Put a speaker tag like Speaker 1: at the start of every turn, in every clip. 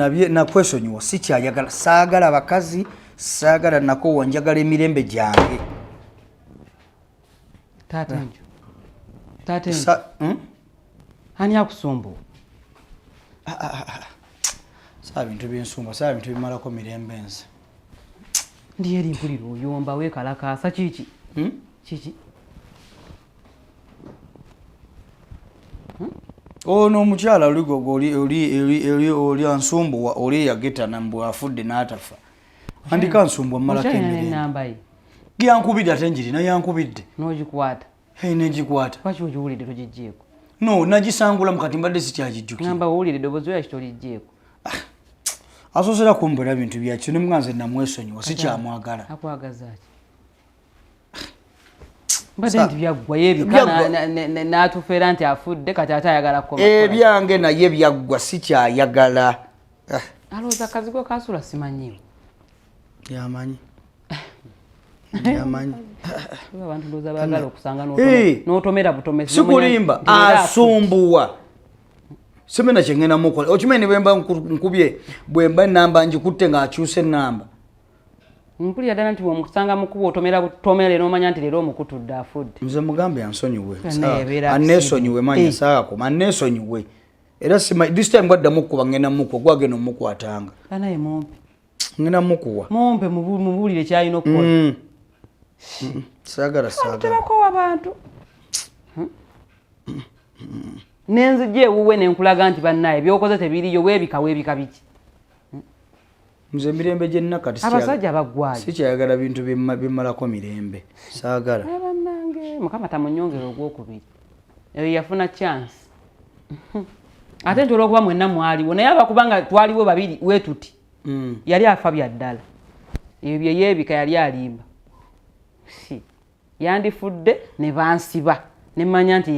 Speaker 1: nabye nakwesonyiwa sikyayagala saagala abakazi saagala nakowa njagala emirembe gyange
Speaker 2: hmm? ani akusumbu ah, ah, ah,
Speaker 1: saa bintu binsumba saa bintu bimalako mirembe nze
Speaker 2: ndiyo eri mpulira oyomba wekalakaasa kiki hmm? kiki
Speaker 1: hmm? ono oh, omukyala oligogo oli ansumbuwa oli eyagetana mbu afudde n'atafa andika nsumbwa mumalako emirembe yankubidde ate njirina yankubidde nogikwata
Speaker 2: Hey, negikwata.
Speaker 1: Lwaki ogiwulidde
Speaker 2: togijjeeko? No, nagisangula
Speaker 1: mukati mbadde sikyagijjukira. Ngamba owulire eddoboozi
Speaker 2: lwaki tolijjeeko? Ah,
Speaker 1: asoosera kumbula bintu byakyo ne nga nze namwesonyiwa sikyamwagala. Akwagaza ki?
Speaker 2: mbadde nti byaggwa yebika n'atufeera nti afudde kati ate ayagala kukoma. Ebyange naye
Speaker 1: byaggwa sikyayagala. Ah.
Speaker 2: Alowooza kazigo kasula simanyiwo.
Speaker 1: yamanyi
Speaker 2: sikulimba
Speaker 1: asumbuwa simena kyengenda mukola okimanyi nebwemba nkubye bwemba enamba ngikutte ngaakyusa enamba
Speaker 2: mpulira ddala nti bwomusanga mukuba otomera butomera era omanya nti leero omukutudde afudde nze mugambe ansonyiwe
Speaker 1: anesonyiwe manyi eh. saakoma anesonyiwe era this time gwaddamu kukuba ngenda mukuba gwagenda omukwatanga anaye mumpi
Speaker 2: ngenda mukuwa
Speaker 1: mumpe mubuulire
Speaker 2: kyalina okukola mm. mm.
Speaker 1: sagala sagalako
Speaker 2: wabantu hmm? nenzija ewuwe nenkulaga nti bannaye byokoze tebiriyo webika webika biki hmm?
Speaker 1: nze emirembe gyenakatiabasajja bagwayo
Speaker 2: sikyayagala bintu
Speaker 1: bimalako mirembe sagala eh,
Speaker 2: mukama tamunyongera ogwokubiri eyo yafuna chance ate nti olwokuba mwenna mwaliwo naye aba kubanga twaliwo babiri wetuti mm. yali afa bya ddala ebyo byeyebika yali alimba si yandifudde ne bansiba ne mmanya nti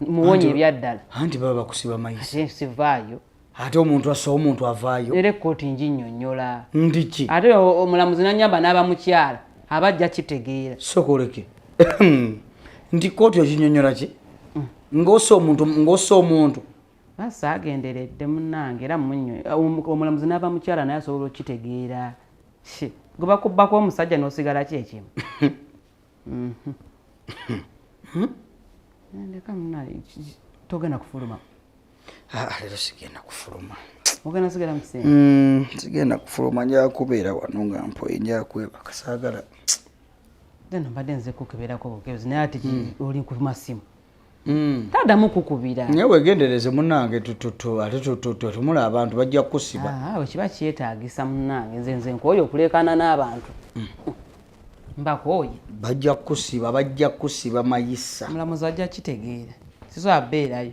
Speaker 2: muwonye ebyaddala anti baba bakusiba
Speaker 1: mayisivaayo
Speaker 2: ate omuntu assa
Speaker 1: omuntu avaayo era ekkooti njinyonyola
Speaker 2: ndiki ate
Speaker 1: omulamuzi nanyamba
Speaker 2: n'aba mukyala aba ajja kitegeera sokoleke
Speaker 1: nti kkooti okinyonyola ki mm. ng'ossa omuntu ng'ossa omuntu basi
Speaker 2: agenderedde munange era munyo omulamuzi n'aba mukyala naye asobola okukitegeera gwe bakubbako omusajja n'osigala ki ekimu mhm. ndeka munaye togenda kufuluma ah,
Speaker 1: leero sigenda kufuluma ogenda sigala
Speaker 2: mukiseera mm, sigenda kufuluma
Speaker 1: nja kubeera wano nga mpoye nja kwebaka saagala
Speaker 2: deno mbadde nze kukebeerako bukebezi naye ati mm. oli ku masimu mm. tadamu kukubira naye wegendereze
Speaker 1: munange tututu ate tututu tumula abantu bajja kukusiba ah, awe kiba kyetagisa
Speaker 2: munange nze nze nkooye okuleekaana n'abantu mbakooye bajja
Speaker 1: kukusiba bajja kukusiba mayisa mulamuzi ajja
Speaker 2: kitegeera sizo abeerayo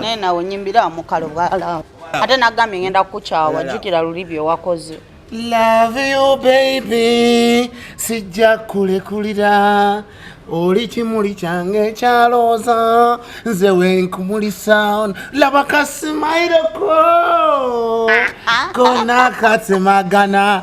Speaker 3: naye nawe nyimbira mukalo bwala ate nagambye ngenda kukukyawa jjukira luli byewakoze love
Speaker 4: you baby sijja kulekulira oli kimuli kyange ekyalooza nze wenkumulisa laba kasimairoko ah, ah, ah. konakatemagana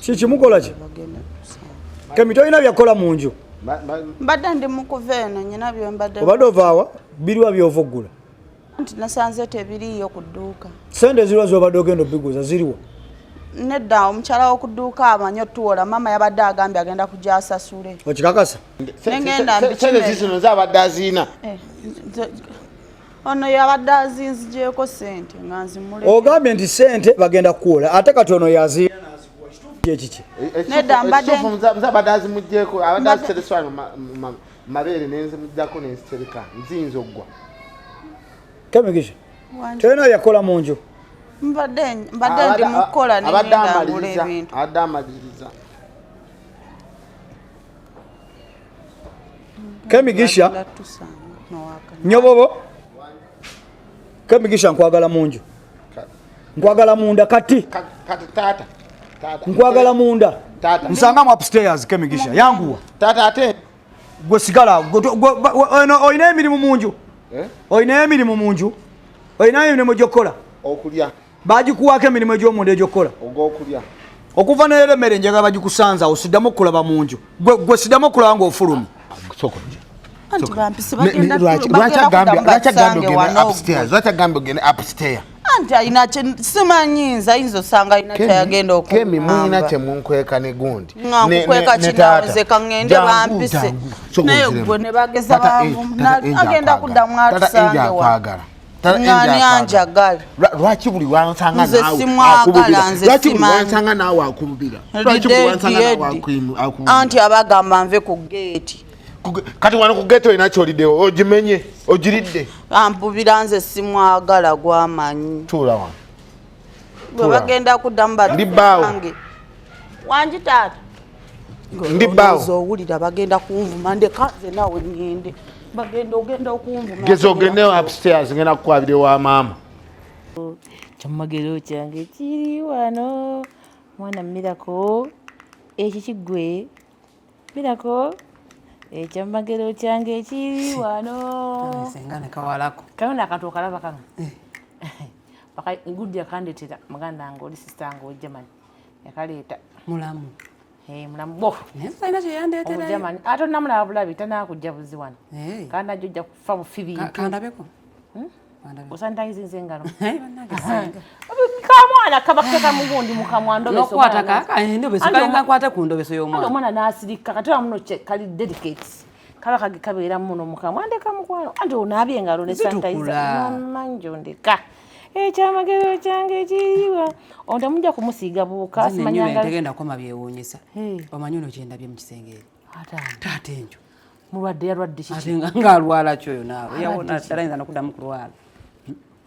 Speaker 1: kikimukola ki kemi tolina byakola mu nju mbadde ndi
Speaker 3: mukuva eno nyina byembadde obadde ovaawa
Speaker 1: biriwa byova okugula nti
Speaker 3: nasanze tebiriiyo ku dduuka sente ziriwa zobadde
Speaker 1: ogenda obiguza ziriwa nedda
Speaker 3: omukyala wokuduuka amanyi otuwola maama yabadde agambye agenda kuja asasule okikakasa
Speaker 1: nengendazino
Speaker 4: zabadde aziina eh,
Speaker 3: ono yabadde azinzigyeko sente nga nzimule ogambye nti sente
Speaker 1: bagenda kukuwola ate kati ono yazi kyekiki nedda
Speaker 3: mbadde azimugyeko
Speaker 4: abadde azitereswa mabeere nenzimugyako nenzitereka nziyinza okuggwa
Speaker 1: kemigisha tolina yakola mu nju
Speaker 3: mbadde ndi mukukola nenendagula ebintu abadde amaliriza
Speaker 1: kemigisha nyobobo kemigisha nkwagala munju nkwagala munda kati kati tata
Speaker 4: nkwagala
Speaker 1: munda nsangamu
Speaker 4: upstairs
Speaker 1: kemigisha yanguwa tata ate
Speaker 4: gwe sigala
Speaker 1: olina emirimu munju eh? olina emirimu munju olina emirimu gyokukola okulya
Speaker 4: bagikuwaako
Speaker 1: emirimu egy'omunda egyokukola ogwokulya
Speaker 4: okuva nayero
Speaker 1: emmere njagala bagikusanza awo siddamu okulaba mu nju gwe siddamu okulaba ngaofulumi
Speaker 4: anti alina
Speaker 3: simanyi nze ayinza osanga alina kyayagenda okukemi mulina kyemunkweka
Speaker 4: ne gundi nkukweka kinaoze
Speaker 3: kaŋŋende bampise naye gwe ne bageza baagenda kuddamu atusange wa ngani anjagala lwaki buli
Speaker 4: wansanga nze simwagala nze
Speaker 3: simansanga naawe
Speaker 4: akubira lwaki buli wansanga naawe akubira anti abagamba
Speaker 3: nve ku geeti kati wano
Speaker 4: ku geeti olina kyolidewo ogimenye ogiridde ampubira nze
Speaker 3: simwagala gwamanyi tuula wano
Speaker 4: gwe
Speaker 3: bagenda kuddamu batuange
Speaker 4: wangi
Speaker 3: taata ndi
Speaker 4: bbaawo owulira bagenda
Speaker 3: kunvuma ndeka nze naawe ngende bagenda ogenda okunvuma geza ogende
Speaker 4: upstairs ngenda kukwabira ewa maama
Speaker 5: kyamagero kyange kiri wano mwana mirako ekyo kigwe birako ekyamagero kyange ekiri wano
Speaker 2: kaona akantu okalaba
Speaker 5: kano eh. gudi akandetera muganda nga oli sisita nga ojaman yakaleeta mulamu
Speaker 2: eh, mulamu
Speaker 5: bo
Speaker 2: omujaman ate onamulaba
Speaker 5: bulabi tanakujja buzi wano eh. kandi najja ojja kufa bufi bintu osanitayizinze engalo kamwana kabakeka mugundi mukamwa ndobesokwata
Speaker 2: ku ndobeso yomwana omwana nasirika kati
Speaker 5: amuno kali dedicate kaba kage kabeera muno mukamwa ndeka mukwano anti onaabye engalo ne sanitayiza manje ondeka ekyamagero eh, kyange ekiriwa ontamujja kumusiiga buuka simanyanga tegenda koma
Speaker 2: byewuunyisa omanyi ono kyendabye mu kisenge taata enjo mulwadde yalwadde
Speaker 5: kiki nga alwala ki
Speaker 2: oyo naawe yawona talayinza nokudamu kulwala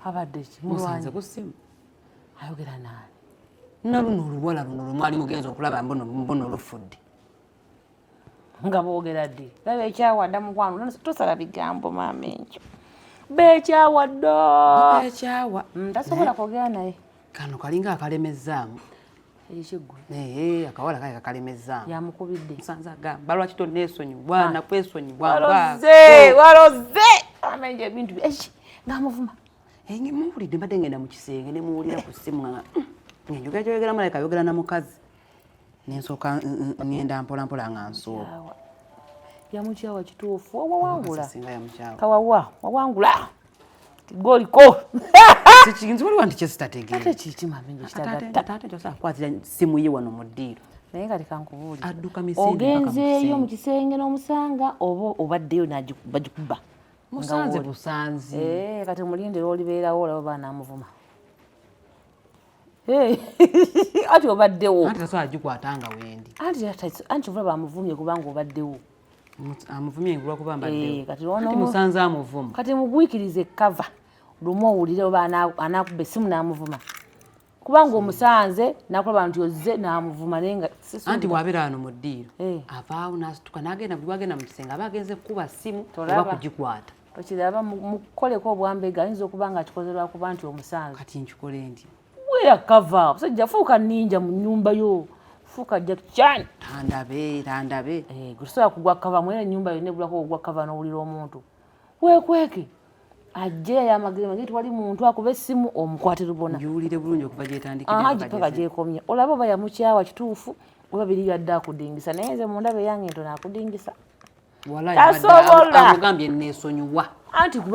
Speaker 2: abadde
Speaker 5: ki mulwanze ku simu
Speaker 2: ayogera
Speaker 5: naani naluno
Speaker 2: oluwala luno lwemwali mugenza okulaba mbuno olufudde
Speaker 5: nga boogera ddi laba ekyawadda mukwano tosala bigambo maama enjo beekyawa ddo
Speaker 2: beekyawa mm, tasobola kwogera
Speaker 5: naye kano kalinga
Speaker 2: akalemezzaamu
Speaker 5: eh, akawala kale
Speaker 2: kakalemezzaamu yamukubidde nsanze
Speaker 5: agamba lwaki
Speaker 2: tonneesonyiwa ah. nakwesonyiwa waloze
Speaker 5: waloze amenje ebintu ngamuvuma eh, muwulidde
Speaker 2: mbadde ngenda mu kisenge nemuwulira ku simu nga hmm, ngenjogera kyoyogera malayika ayogera na mukazi nensooka ngenda mpolampola nga nsooba yamukyawa
Speaker 5: kituufu wawangula kawawa
Speaker 2: wawangula
Speaker 5: goliko kikinzi
Speaker 2: waliwo nti kyesitategeera
Speaker 5: kwatira
Speaker 2: simu ye wano mu ddiiro naye nga leka
Speaker 5: nkubuulira
Speaker 2: ogenzeeyo mu
Speaker 5: kisenge n'omusanga oba obaddeyo bagikuba musanze
Speaker 2: busanzi eh, kati mulindira
Speaker 5: olibeerawo olaba baana amuvuma anti obaddewo anti tasobola gikwata nga
Speaker 2: wendi anti olaba
Speaker 5: amuvumye kubanga obaddewo amuvumye
Speaker 2: olwakuba mbaddewomusanze eh,
Speaker 5: amuvuma
Speaker 2: kati mugwikirize
Speaker 5: kava lumu owulire oba anakuba esimu namuvuma kubanga omusanze nakulaba nti ozze namuvuma naye nga anti wabeera wano mu
Speaker 2: ddiiro eh. avaawo nasituka nagenda buli wagenda mu kisenge aba agenze kukuba simu oba kugikwata okiraba
Speaker 5: mukukoleko obwambega ayinza okuba nga akikoze lwakuba nti omusange kati nkikole ndi
Speaker 2: weyakava
Speaker 5: omusajja fuuka ninja mu nyumba yo fuuka jakichan tandabe tandabe
Speaker 2: eh, gusobola
Speaker 5: kugwa kava mwena enyumba yo negulako ogwa kava nowulira omuntu wekweke ajje yayamagire magi tewali muntu akuba essimu omukwate lubona giwulire bulungi okuva
Speaker 2: gyetandikipaka gyekomye
Speaker 5: olaba oba yamukyawa kituufu oba biri yadde akudingisa naye nze mundaba eyange nto nakudingisa tasobolaamugambye
Speaker 2: nesonyiwa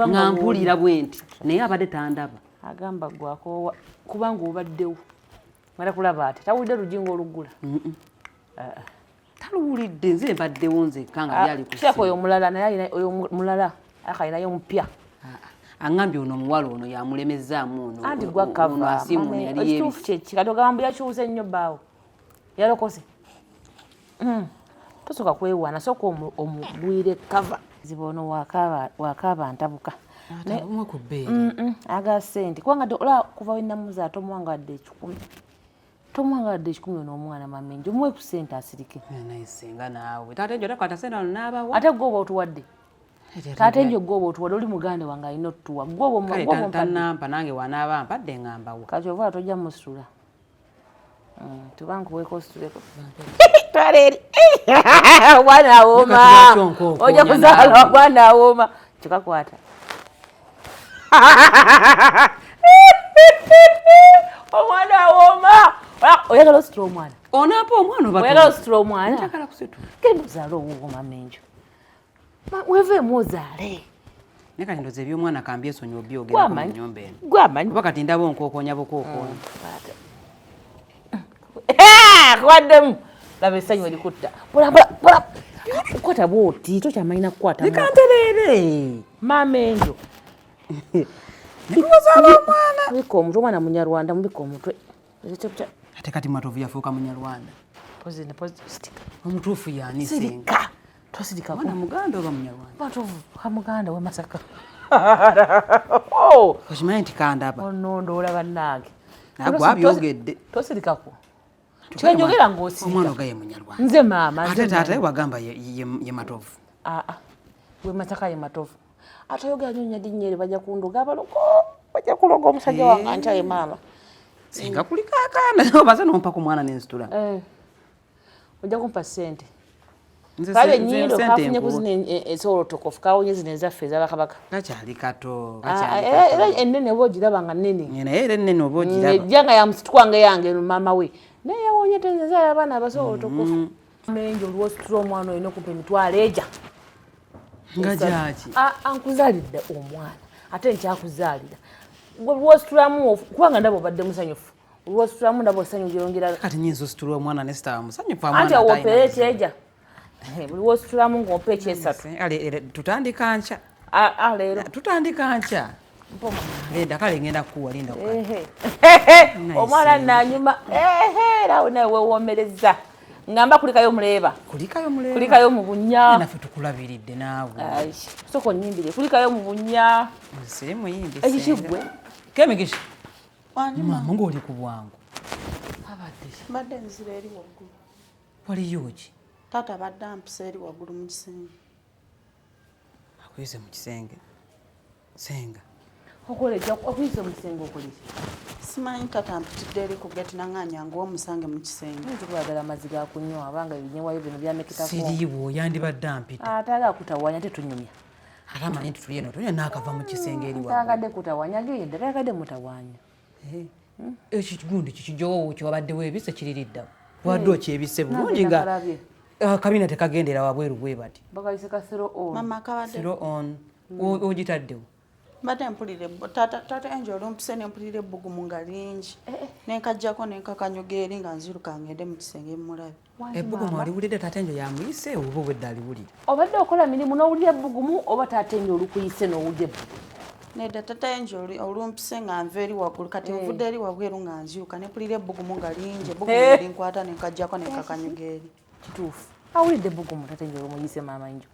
Speaker 2: nga
Speaker 5: mpulira
Speaker 2: bwenti naye abadde tandaba agamba
Speaker 5: gwakoowa kubanga obaddewo mala kulaba ati tawulidde lujinga olugula
Speaker 2: taluwulidde nze mbaddewo nzekka nga ah, yalikuseko oyo omulala naye
Speaker 5: oyo mulala akalinayo omupya ah, ah. aŋambye
Speaker 2: ono omuwala ono yamulemezzaamu onoasimu
Speaker 5: yali yebisi
Speaker 2: kyekikatogamba
Speaker 5: mbu yakyusa ennyo baawo yalokoze hmm. tosoka kwewaana soka omugwire kava ziba ono wakaaba ntabuka aga sente kubanga olaba kuva wenamuza tomuwangawadde ekikumi tomuwangawadde ekikumi ono omwana mamenje omuwe ku sente asirike ate
Speaker 2: gwe oba otuwadde
Speaker 5: taata enjo gwoba otuwala oli muganda wange alina otutuwa gwobatanampa nange
Speaker 2: wanaaba mpadde ngambawo kati ovaola tojja
Speaker 5: musula Mm, tuba nkuweeko osituleko twala eri obwana awooma oja kuzaala obwana awooma kikakwata omwana awooma oyagala ositula omwana onapa omwana
Speaker 2: oyagala ositula omwana
Speaker 5: genda ozaala owuwo mamenjo weveemu ozaale naye kati ndoza
Speaker 2: ebyomwana kambi esonyi obyogera mu nyumba eno gwamanyi kuba kati ndaba
Speaker 5: onkookonya
Speaker 2: bukookonya mm,
Speaker 5: eh, waddemu laba esanyu erikutta kukwata bwoti kyo kyamanyi nakukwata nikantereere
Speaker 2: maama enjo
Speaker 5: nikuzaala omwana mubika omutwe omwana munyarwanda mubika omutwe
Speaker 2: ate kati matovu yafuuka munyarwanda omutuufu yani sirika twasirika mwana
Speaker 5: muganda oba
Speaker 2: munyarwanda batovu kamuganda
Speaker 5: we masaka oh!
Speaker 2: okimanyi nti kandaba onondo oh, olaba nange
Speaker 5: nagwe abyogedde
Speaker 2: tosirikako
Speaker 5: kyenjogera ngaosiomwana oga ye
Speaker 2: munyarwanda nze maama ate taata
Speaker 5: ye wagamba
Speaker 2: ye matovu aa ah, ah.
Speaker 5: we masaka ye matovu ate oyogera nyo nyadi nyeri baja kunduga abalogo baja kuloga omusajja wange eh. antyaye maama singa
Speaker 2: kulikakana obaze nompa ku mwana nenzitula eh.
Speaker 5: ojja kumpa sente kale nyindo kafunye kuzina esobola otokofu kawonye zino ezaffe ezabakabaka kakyali kato
Speaker 2: ah, eh, era
Speaker 5: ennene oba ogiraba nga nnene naye era ennene oba
Speaker 2: ogiraba ejja nga yamusitwanga
Speaker 5: yange eno maama we naye yawonye tenzezala abaana abasobola otokofu mm-hmm. menje olwositula omwana olina okumpa emitwalo eja
Speaker 2: nga gyaki ah, ankuzalidde
Speaker 5: omwana ate nkyakuzaalira gwe lwositulamu kubanga ndaba obadde musanyufu lwositulamu ndaba osanyu lyongera kati nyinza ositula omwana
Speaker 2: ne star musanyufu anti awopera ekyeja
Speaker 5: eh, buli wositulamu ng'ompa ekyesatu tutandika
Speaker 2: nkya leero
Speaker 5: tutandika nkya
Speaker 2: leda kale ngenda kukuwa linda
Speaker 5: omwana nanyuma erawo nawe wewomereza ngamba kulikayo muleeba kulikayo muleeba kulikayo mu bunya naffe tukulabiridde
Speaker 2: naawe soko
Speaker 5: nyimbire kulikayo mu bunya nsiri muyimbi ekikigwe kemigisha
Speaker 2: maama ng'oli ku bwangu
Speaker 3: mbadde nzira eri waggulu waliyo
Speaker 2: ki taata badde ampisa
Speaker 3: eri waggulu mu kisenge
Speaker 2: akuyise mu kisenge senga okoleja
Speaker 5: akuyise mu kisenge okoleki simanyi taata
Speaker 3: mpitidde eri ku geti nanganya ngu omusange mu kisenge nti kwagala amazzi ga
Speaker 5: kunywa abanga ebinyewayo bino byamekitako siriiwo yandibadde
Speaker 2: ampita atala akutawanya
Speaker 5: tetunyumya ate amanyi nti
Speaker 2: tuli eno tuli naakava mu kisenge eri tayagade kutawanya
Speaker 5: genda tayagade mutawanya
Speaker 2: eh, ekigundi kikijowo kyewabaddewo ebise kiririddawo wadde eh. okyebise bulungi nga akabina ah, tekagendera wabweru bwe bati ogitaddewo mbadde
Speaker 3: mpulire taata enje olumpise nempulira ebbugumu nga lingi eh, nenkajjako nenkakanyuga eri nga nziruka ngende mu kisenge mulabe ebbugumu aliwulidde
Speaker 2: taata enyo yamuyise oba obwedda aliwulira obadde okola mirimu
Speaker 5: n'owulira ebbugumu oba taata enyo olukuyise n'owulira ebbugumu nedda tata
Speaker 3: enjo olumpise nga nva eri waggulu kati eh. nvudde eri wabweru nga nzyuka nepulira ebbugumu nga lingi ebbugumu eh. linkwata nenkajjako nekakanyuga eri kituufu
Speaker 5: awulidde ebbugumu tata enjo olumuyise maama enjo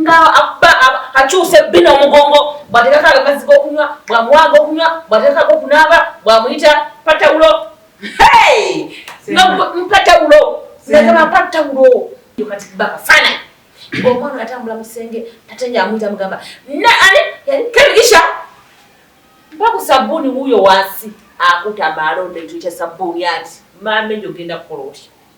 Speaker 5: nga akyusa ebbina omugongo bwatekako amazzi gokunywa bwamuwanga okunywa bwatekako okunaaba bwamuyita patawulo mpatawulo nagamba mpatawulo kati bakafana omwana atambula musenge tatenya amuyita mugamba naani yali kebigisha mpaku sabbuuni wuuyo wansi akutama alonda ekyo kya sabbuuni ati maama enyo ogenda kukola otya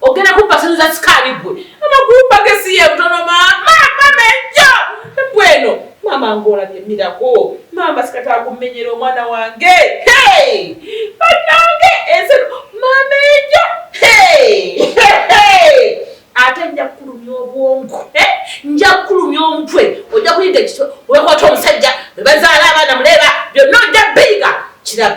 Speaker 5: Ogenda kubba sente za sikaali ggwe. Amakulu mpake si ye butono maama mama ejjo ebbwa eno. Maama ng'olabye mirago maama sikata akumenyera omwana wange hey! bannange ensi maama ejjo hey! hey! ate nja kukulumya obwongo eh? nja kukulumya omutwe ojja kuyiga ekiso wekwata omusajja webazaala abaana muleeba byonna ojja biyiga kirabe